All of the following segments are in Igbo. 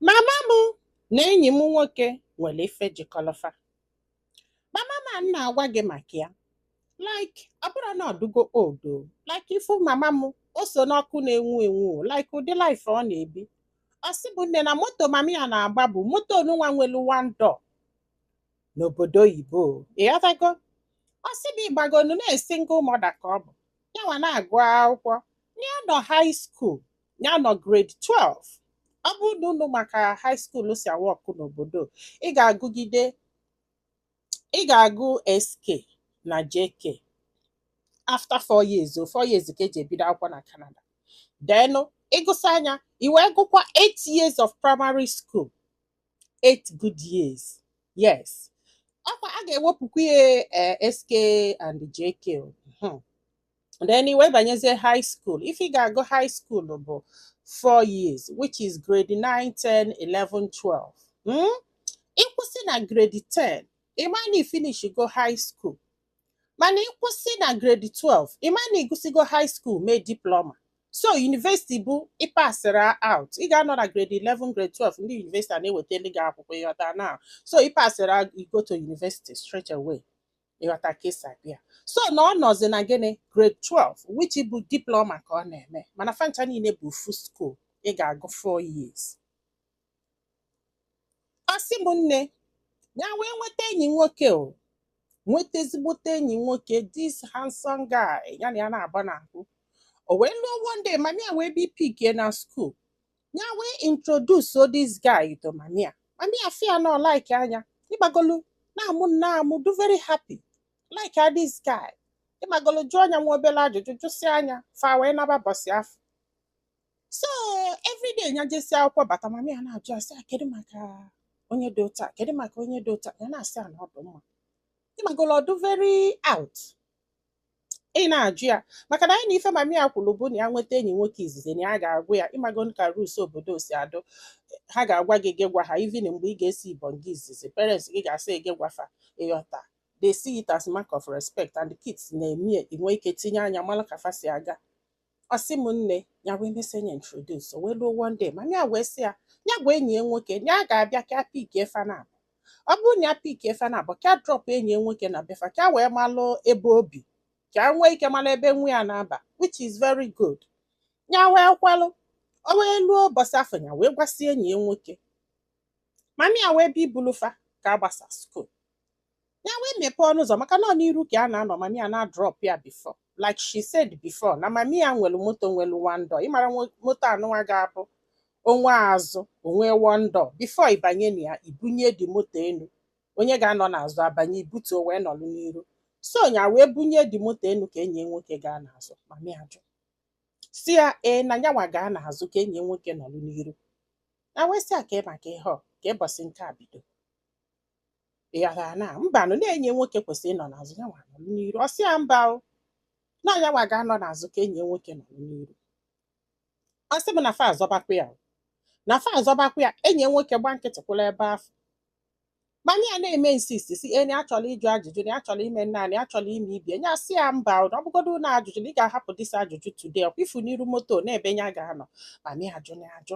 mama m na enyi m nwoke nwere ife jikọlọ fa mama m a na-agwa gị maka ya like ọ bụrụ na ọ dụgo old like ị fụ mama m o so n'ọkụ na-enwu enwu o, like ụdị life ọ na-ebi ọ sị mụ nne na moto mama ya na-agba bụ moto onunwa nwelu one door n'obodo oyibo o. ị ghọtago ọ sị mụ ị magonu na single mother ka ọ bụ yanwa na-agụ akwụkwọ ya nọ high school ya nọ grade 12 ọ bụrụ na unu ma ka high school si awa ọkụ n'obodo ị ga-agụgide ị ga-agụ SK na JK after four years o four years ka e ji ebido akwụkwọ na Canada then ị gụsịa nya i wee gụkwa 8 years of primary school 8 good years yes ọ kwa a ga-ewepụkwa ya eh, SK and JK o. Mhm. then i wee banyezie high school ife ị ga-agụ high school bụ 4 years which is grade 9 10 11 12 hmm? ị kwụsị na grade 10 ị ma na i finishigo high school mana ị kwụsị na grade 12 ị ma na ị gụsịgo high school mee diploma so university bụ ị pasịra out ị ga-anọ na grade 11 grade 12 ndị university a na-ewetali gị akwụkwọ ị ghọta now so ị pasịra go to university straight away ị ghọta ka e si abịa so na ọ nọzi na gịnị grade 12 which bụ diploma ka ọ na-eme mana fa ncha niile bụ ofu school ị ga-agụ 4 years ọ sị m nne ya wee nweta enyi nwoke o nweta ezigbote enyi nwoke this handsome guy ya na ya naabọ na-akụ o wee luo one day mami ya wee bịa pikie na skuul ya wee introduce this guy to mami ya mami ya fụ ya na-like nya ị magolu na-amụ nya amụ dụ very happy like this guy ị magolu jụọ nya nwa obele ajụjụ jụsịa nya fa wee naba ụbọsị afụ so everyday nya jesịa akwụkwọ bata mami ya na-ajụ a sị "Ah, kedu maka onye dị otu a kedu maka onye dị otu a ya na-asị a na ọ dị mma ị magolu ọ dụ very out ị na-ajụ ya maka na anyị na ife mami ya kwulu bụ na ya nweta enyi nwoke izizi na ya ga-agwa ya ị mago ka rules obodo si adụ ha ga-agwa gị gị gwa ha even mgbe ị ga-esi ibon gị izizi parents gị ga-asị gị gwa fa ị ghọta they see it as mark of respect and kids na-eme ya i nwee ike tinye anya malụ ka fa si aga ọ sị m nne ya wee mesịa nya introduce o wee luo one day mami ya wee sị ya ya gwa enyi ya nwoke ya ga-abịa ka pickie fa naabọ ọ bụrụ na ya pickie fa naabọ ka drop enyi ya nwoke na be fa ka wee malụ ebe o bi ka nwee ike malụ ebe nwa ya na-aba which is very good ya wee kwelụ o wee luo ụbọsị afụ ya wee gwasịa enyi ya nwoke mami ya wee bịa ibulu fa ka a gbasa skuul ya wee mepee ọnụ ụzọ maka na ọ n'iru ka ya na-anọ mami ya na-adrop ya before like she said before na mami ya nwere moto nwere one door ị mara moto anụnwa ga-abụ o nwee azụ o nwee one door before ịbanye na ya i bunye the moto elu onye ga-anọ n'azụ abanye i butuo wee nọlụ n'iru so ya wee bunye the moto elu ka enyi nwoke gaa n'azụ mami ya jụ sị ya ee na nyanwa gaa n'azụ ka enyi nwoke nọlụ n'iru nya wee sị ya ka maka ihe ọ ka ụbọsị nke a bido ya na mbanụ na enyi nwoke kwesịrị ịnọ n'azụ ya nwa nọrọ n'iru ọ sị ya mba o na ya nwa ga-anọ n'azụ ka enyi ya nwoke nọrọ n'iru ọ sị m na fa azọbakwa ya o. na fa azọbakwa ya enyi ya nwoke gba nkịtị kwụrụ ebe afụ mami ya na-eme insist sị na nya chọrọ ịjụ ajụjụ na ya chọrọ ime naanị ya chọrọ ime ibi e nya asị ya mba o, na ọ bụgodo na ajụjụ na ị ga-ahapụ this ajụjụ today ọkwa ifu n'iru moto na ebe ya ga-anọ mami ya ajụ na ajụ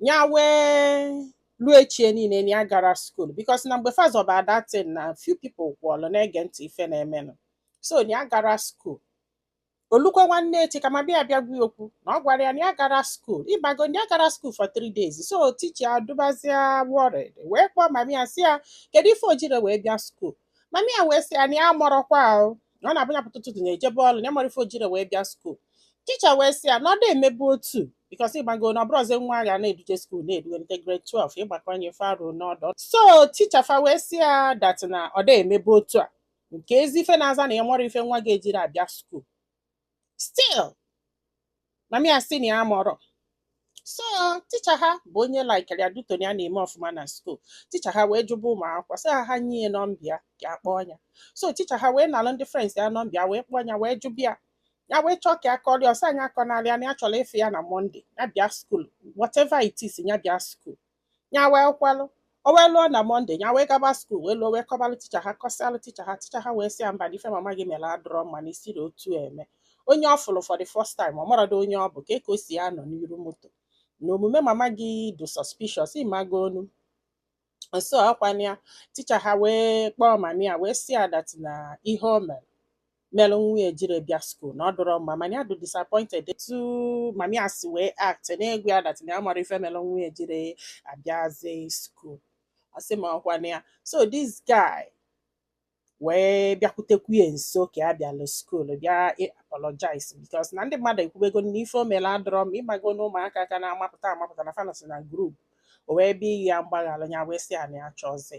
ya wee ruo echie niile na ya garọ school because na mgbe fa zọba that thing na few people kwụlụ na-ege ntị ife na-emenụ so na ya garọ school o lukwa nwanne echi ka mami ya bịa gwa ya okwu na ọ gwara ya na ya garọ school ịmago na ya garọ school for three days so teacher adịbazịa worried wee kpọọ mami ya sị ya kedu ife o jirọ wee bịa school mami ya wee sị ya na ya mọrọkwa ahụ na ọ na-abụ ya pụta ụtụtụ nya ejebe ọrụ na ya mọrọ ife o jirọ wee bịa school teacher wee sị ya na ọ dị emebu otu because ịmago na ọ bụrọzi nwa a ga na-eduje school na-edunata grade 12 ịgbakọnye faruo n'ọdọ so teacher fa wee sị ya that na ọ dị emebu otu a nke ezi ife na-aza na ya mọrọ ife nwa ya ejirọ abịa school still mami ya sị na ya mọrọ so teacher ha bụ onye likere ya due to na ya na-eme ọfụma na school teacher ha wee jụba ụmụ akwụkwọ sị ha ha nye ya number ya ka ya kpọọ ya so teacher ha wee nalụ ndị friends ya number ya wee kpọọ ya wee jụba ya ya wee chọọ ka ya kọrọ ya ọ sị nya akọnarị ya na ya chọrọ ịfụ ya na Monday ya bịa school whatever it is ya bịa school ya wee kwelụ o wee luo na Monday ya wee gaba school wee luo wee kọbalụ teacher ha kọsịalụ teacher ha teacher ha wee sị ya mba na ife mama gị mere adịrọ mma na esirọ otu a eme onye ọ fụrụ for the first time ọ marọdụ onye ọ bụ ka eke ọ sị ya nọ n'iru moto na omume mama gị dị suspicious ịmago onu nso ọkwa na ya teacher ha wee kpọọ mami ya wee sị ya that na ihe o mere mere nwa ya ejirọ bịa school na ọ dịrọ mma mana ya dị disappointed etu mami ya si wee act na-agwa ya that na ya marọ ife mere nwa ya ejirọ abịazi school ọ sị m ọkwa na ya so this guy wee bịakwutekwu ya nso ka ya bịalụ school bịa ị- apologize because na ndị mmadụ ekwubego na ife o mere adịrọ mma ịmago na ụmụaka ka na-amapụta amapụta na fa nọsị na group o wee bịa ịyọ ya mgbaghara ya wee sị ya na ya chọzi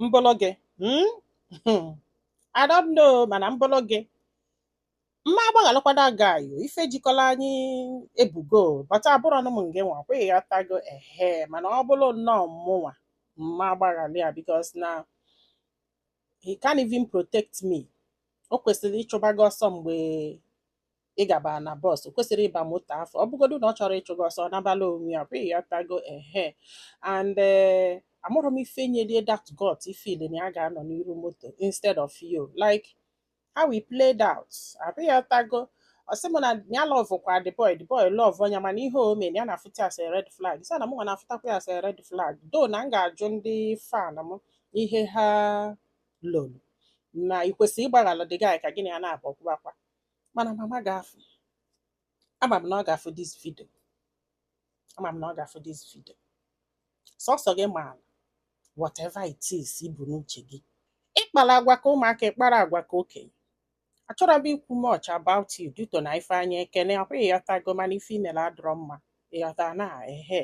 m bụlụ gị hmm? Hmm. I don't know mana m bụlụ gị m ma agbaghalụkwa the guy o ife jikọlụ anyị ebigo but abụrọ nụ m ngị nwa ọkwa ịghọtago ehe mana ọ bụrụ nnọọ mụnwa m ma agbaghalị ya because na he can't even protect me o kwesịrị ịchụba gị ọsọ mgbe ị gaba na bus o kwesịrị ịba moto afụ ọ bụgodu na ọ chọrọ ịchụ gị ọsọ ọ nabala onwe ya abi ịghọtago ehe and eh, amarọ m ife nyelị ya that gut ịfeel na ya ga-anọ n'iru moto instead of you like how we played out abi ịghọtago ọ sị m na ya lovekwa the boy the boy love nya mana ihe o mere ya na-afụta ya as a red flag sị na mụ nwa na-afụtakwa ya as a red flag though na m ga-ajụ ndị fan m ihe ha lolo na ị kwesịrị ịgbaghara the guy ka gị na ya na-abụ ọkwụbakwa mana mama ga-afụ ama m na ọ ga-afụ this video ama m na ọ ga-afụ this video sọsọ gị ma whatever it is i bu n'uche gị ị kpara agwa ka ụmụaka ị kpara agwa ka okenye achọrọ m ikwu much about you due to na ifeanyị ekene ọkwa ịghọtago mana ife i mere adịrọ mma ịghọta na ehe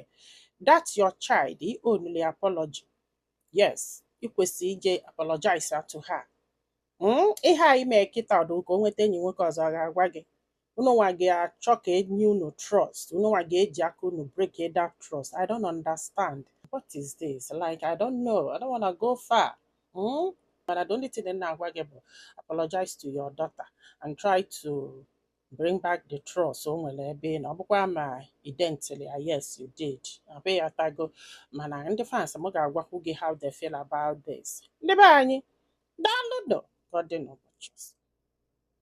that your child ị owe ya apology yes ị kwesịrị ije apologize to her hmm, ihe a i mee kịta ọ dị ka o nweta enyi nwoke ọzọ ọ ga-agwa gị unu nwa ga-achọ ka e nye unu trust unu nwa ga-eji aka unu break that trust i don't understand what is this like i don't know i don't wanna go far hmm? mana the only thing m na-agwa gị bụ apologize to your daughter and try to bring back the trust o nwere ebe ị nọ ọ bụkwa ma i dentili ya yes you did abi ịghọtago mana ndị fans m ga-agwakwu gị how they feel about this ndị be anyị daalụ nụ ka ọ dị n'ụbọchị ọzọ.